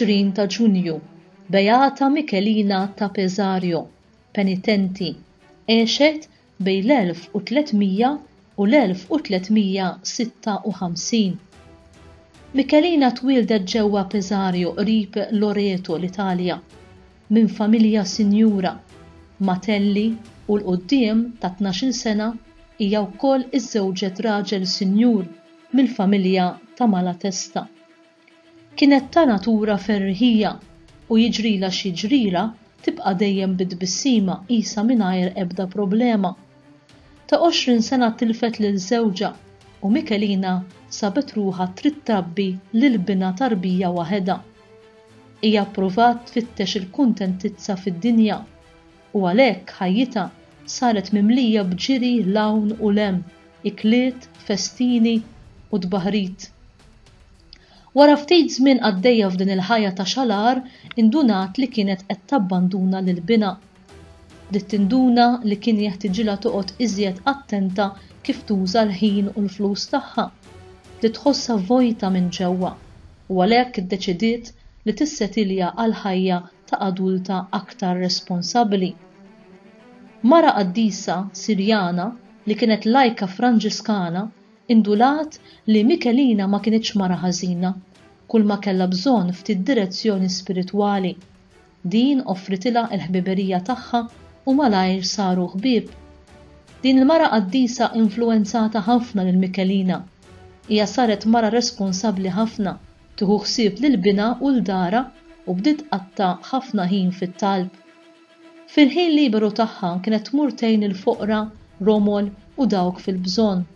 20 ta' Ġunju, Beata Michelina ta' Pesario, penitenti, għexet bejn l-1300 u l-1356. Michelina twieldet ġewwa Pesario qrib Loreto, l-Italja, minn familja sinjura, Matelli, u 'l quddiem ta' tnax-il sena hija wkoll iżżewġet raġel sinjur mill-familja ta' Malatesta. Kienet ta' natura ferriħija u jiġrilha x'jiġrilha tibqa' dejjem bi tbissima qisha mingħajr ebda problema. Ta' għoxrin sena tilfet lil żewġha u Michelina sabet ruħha trid trabbi lil binha tarbija waħedha. Hija ppruvat tfittex il-kuntentizza fid-dinja. u għalhekk ħajjitha saret mimlija b'ġiri 'l hawn u 'l hemm, ikliet, festini u tbaħrit. Wara ftit żmien qaddejja f'din il-ħajja ta' xalar indunat li kienet qed tabbanduna lil binha. Bdiet tinduna li kien jeħtiġilha toqgħod iżjed attenta kif tuża l-ħin u l-flus tagħha. Bdiet tħossha vojta minn ġewwa u għalhekk iddeċidiet li tissetilja għall-ħajja ta' adulta aktar responsabbli. Mara qaddisa Sirjana li kienet lajka Franġiskana indulat li Michelina ma kinitx mara ħażina, kulma kellha bżonn ftit direzzjoni spiritwali. Din offritilha l-ħbiberija tagħha u malajr saru ħbieb. Din il-mara qaddisa influwenzata ħafna lil Michelina. Hija saret mara responsabbli ħafna. tieħu ħsieb lil binha u 'l darha u bdiet tqatta' ħafna ħin fit-talb. Fil-ħin liberu tagħha kienet tmur tgħin il-foqra, romol u dawk fil-bżonn.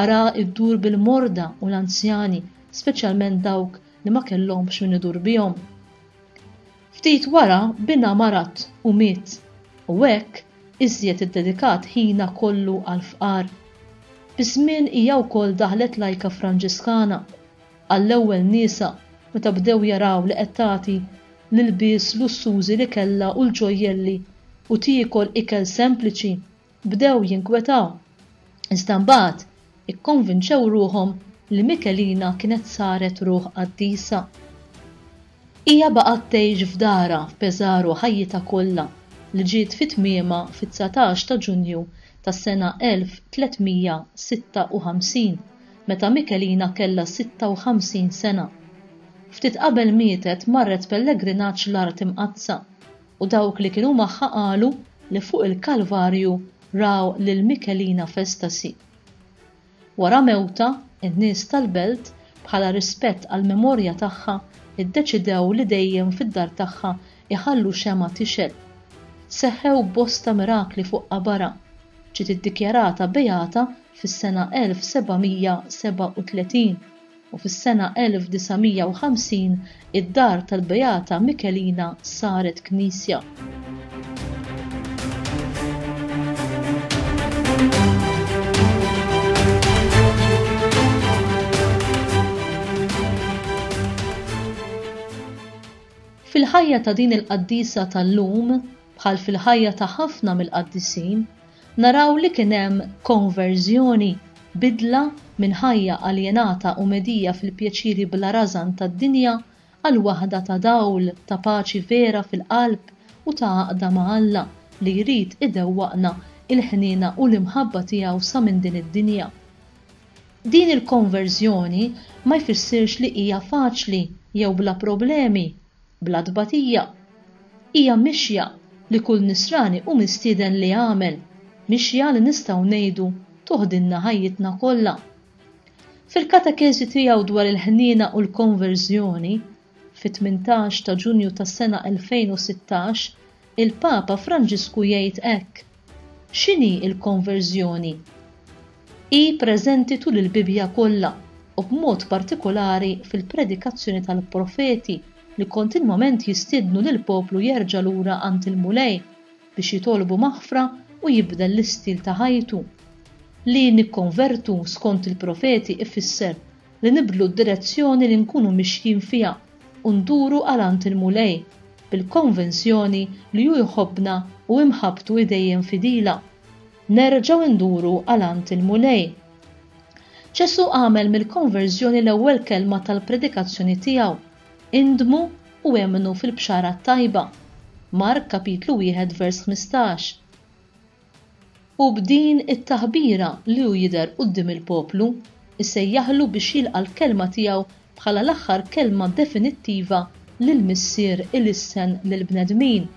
Ara ddur bil-morda u l-anzjani, speċjalment dawk li ma kellhomx min idur bihom. Ftit wara binha marad u miet u hekk iżjed iddedikat ħinha kollu għall-fqar. Biż-żmien hija wkoll daħlet lajka Franġiskana. Għall-ewwel nisa, meta bdew jaraw li qed tagħti l-ilbies lussużi li kellha u l-ġojjelli u tiekol ikel sempliċi, bdew jinkwetaw. Iżda mbagħad ikkonvinċew ruħhom li Michelina kienet saret ruħ qaddisa. Hija baqgħet tgħix f'darha f'Pesaro ħajjitha kollha, li ġiet fi tmiemha fit-dsatax ta' Ġunju tas-sena 1356. meta Michelina kellha 56 sena. Ftit qabel mietet marret pellegrinaġġ l-Art Imqaddsa u dawk li kienu magħha qalu li fuq il-Kalvarju raw lil Michelina f'estasi. Wara mewtha, in-nies tal-belt, bħala rispett għall-memorja tagħha, iddeċidew li dejjem fid-dar tagħha jħallu xemgħa tixgħel. Seħħew bosta mirakli fuq qabarha. Ġiet iddikjarata beata fis-sena 1737 u fis-sena 1950 id-dar tal-Beata Michelina saret knisja. Fil-ħajja ta' din il-qaddisa tal-lum, bħal fil-ħajja ta' ħafna mill-qaddisin, naraw li kien hemm konverżjoni, bidla minn ħajja aljenata u medija fil-pjaċiri bla rażan tad-dinja għal waħda ta' dawl, ta' paċi vera fil-qalb u ta' għaqda ma' Alla li jrid idewwaqna il-ħniena u l-imħabba tiegħu sa minn din id-dinja. Din il-konverżjoni ma jfissirx li hija faċli jew bla problemi, Bla tbatija. Hija mixja li kull Nisrani hu mistieden li jagħmel, mixja li nistgħu ngħidu toħdilna ħajjitna kollha. Fil-katekeżi tiegħu dwar il-ħniena u l-konverżjoni, fit-18 ta' Ġunju tas-sena 2016, Il-Papa Franġisku jgħid hekk, X'inhi l-konverżjoni? Hi preżenti tul il-Bibbja kollha u b'mod partikolari fil-predikazzjoni tal-profeti li kontinwament jistiednu lill-poplu jerġa' lura għand il-Mulej biex jitolbu maħfra u jibdel l-istil ta' ħajtu. Li nikkonvertu skont il-profeti ifisser li nibdlu d-direzzjoni li nkunu mixjin fiha u nduru għal għand il-Mulej, bil-konvinzjoni li hu jħobbna u imħabbtu hi dejjem fidila. Nerġgħu nduru għal għand il-Mulej. Ġesù għamel mill-konverżjoni l-ewwel kelma tal-predikazzjoni tiegħu, Indmu u emmnu fil-Bxara t-Tajba. Mark kapitlu wieħed vers ħmistax. Hu b'din it-taħbira li hu jidher quddiem il-poplu, isejjaħlu biex jilqa' l-kelma tiegħu bħala l-aħħar kelma definittiva li l-Missier ilissen lill-bnedmin.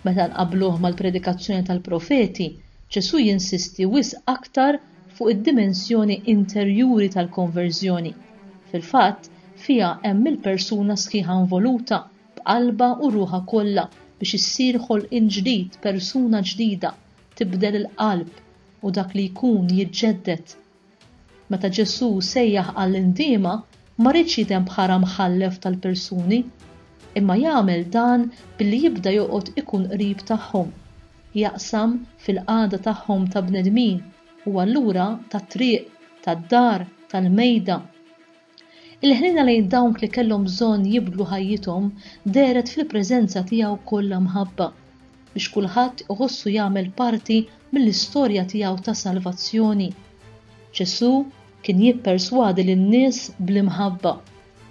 Meta nqabbluh mal-predikazzjoni tal-profeti, Ġesù jinsisti wisq aktar fuq id-dimensjoni interjuri tal-konverżjoni. Fil-fatt, fiha hemm il-persuna sħiħa involuta, b'qalbha u ruħha kollha biex issir ħolqien ġdid, persuna ġdida, tibdel il-qalb u dak li jkun jiġġedded. Meta Ġesù sejjaħ għall-indiema, ma riedx jidhem bħala mħallef tal-persuni, imma jagħmel dan billi jibda joqgħod ikun qrib tagħhom, jaqsam fil-qagħda tagħhom ta' bnedmin u allura tat-triq, tad-dar, tal-mejda. Il-ħniena lejn dawk li kellhom bżonn jibdlu ħajjithom dehret fil-preżenza tiegħu kollha mħabba, biex kulħadd iħossu jagħmel parti mill-istorja tiegħu ta' salvazzjoni. Ġesù kien jipperswadi lin-nies bl-imħabba,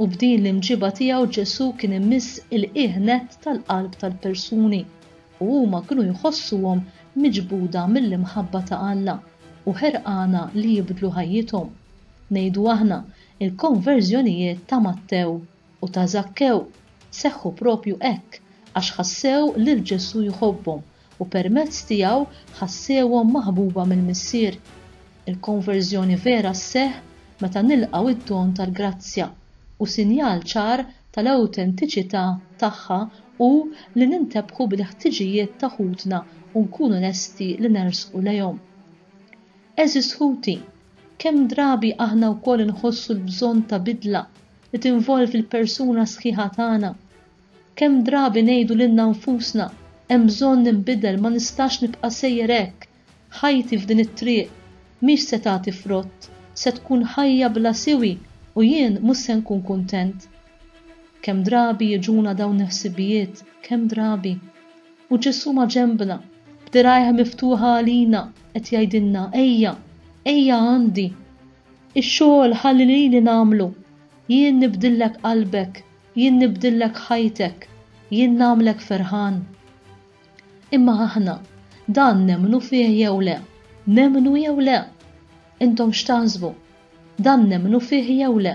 u b'din l-imġiba tiegħu Ġesù kien imiss il-qiegħ nett tal-qalb tal-persuni, u huma kienu jħossuhom miġbuda mill-imħabba ta' Alla u ħerqana li jibdlu ħajjithom. Ngħidu aħna, il-konverżjonijiet ta' Mattew u ta' Żakkew seħħu proprju hekk għax ħassew lil Ġesù jħobbhom u permezz tiegħu ħassewhom maħbuba mill-Missier. Il-konverżjoni vera sseħħ meta nilqgħu d-don tal-grazzja, u sinjal ċar tal-awtentiċità tagħha hu li nintebħu bil-ħtiġijiet ta' ħutna u nkunu lesti li nersqu lejhom. Għeżież ħuti, kemm drabi aħna wkoll inħossu l-bżonn ta' bidla li tinvolvi l-persuna sħiħa tagħna. Kemm drabi ngħidu lilna nfusna, 'Hemm bżonn ninbidel, ma nistax nibqa' sejjer hekk. Ħajti f'din it-triq mhix se tagħti frott, se tkun ħajja bla siwi u jien mhux se nkun kuntent. Kemm drabi jiġuna dawn il-ħsibijiet, kemm drabi. U Ġesù maġenbna, b'dirgħajh miftuħa għalina, qed jgħidilna, Ejja, ejja għandi. Ix-xogħol ħalli lili nagħmlu. Jien nibdillek qalbek, jien nibdillek ħajtek, jien nagħmlek ferħan. Imma aħna, dan nemmnu fih jew le? Nemmnu jew le? Intom x'taħsbu? Dan nemmnu fih jew le?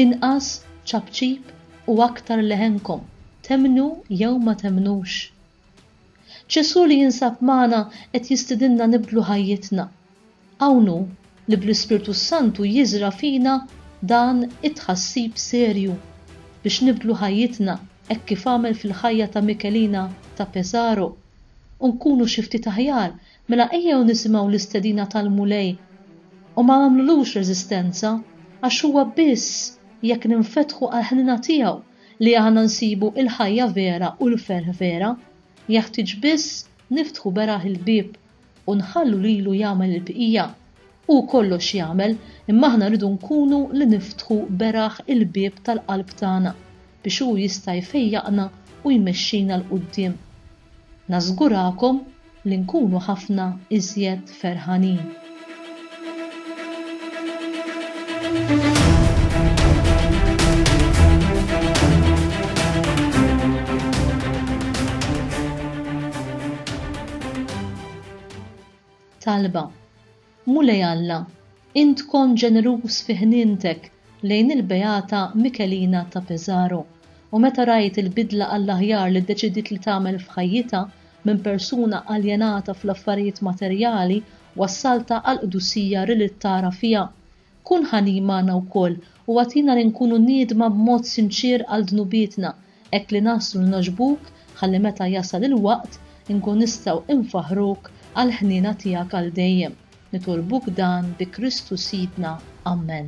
Inqas ċapċip u aktar leħenkom, temmnu jew ma temmnux. Ġesù li jinsab magħna qed jistidinna nibdlu ħajjitna. Hawn hu li bl-Ispirtu s-Santu jiżra' fina dan it-tħassib serju biex nibdlu ħajjitna hekk kif għamel fil-ħajja ta' Michelina ta' Pesaro u nkunu xi ftit aħjar Mela ejjew nisimgħu l-istedina tal-Mulej u ma nagħmlulux reżistenza, għax huwa biss jekk ninfetħu għall-ħniena tiegħu li aħna nsibu l-ħajja vera u l-ferħ vera. Jeħtieġ biss niftħu beraħ il-bieb u nħallu lilu jagħmel il-bqija. Hu kollox jagħmel, imma aħna rridu nkunu li niftħu beraħ il-bieb tal-qalb tagħna biex Hu jista' jfejjaqna u jmexxina 'l quddiem. Nażgurakom li nkunu ħafna iżjed ferħanin. Talba, Mulej Alla, int tkun ġeneruż fi ħnientek lejn il-Beata Michelina ta' Pesaro, u meta rajt il-bidla għall-aħjar li ddeċidiet li tagħmel f'ħajjitha, minn persuna aljenata fl-affarijiet materjali wassaltha għall-qdusija riliet tara fiha. Kun ħanin magħna wkoll u agħtina li nkunu niedma b'mod sinċier għal dnubietna, hekk li naslu li nogħġbuk, ħalli meta jasal il-waqt, inkun nistgħu infaħħruk għall-ħniena tiegħek għal dejjem. Nitolbuk dan bi Kristu Sidna. Ammen.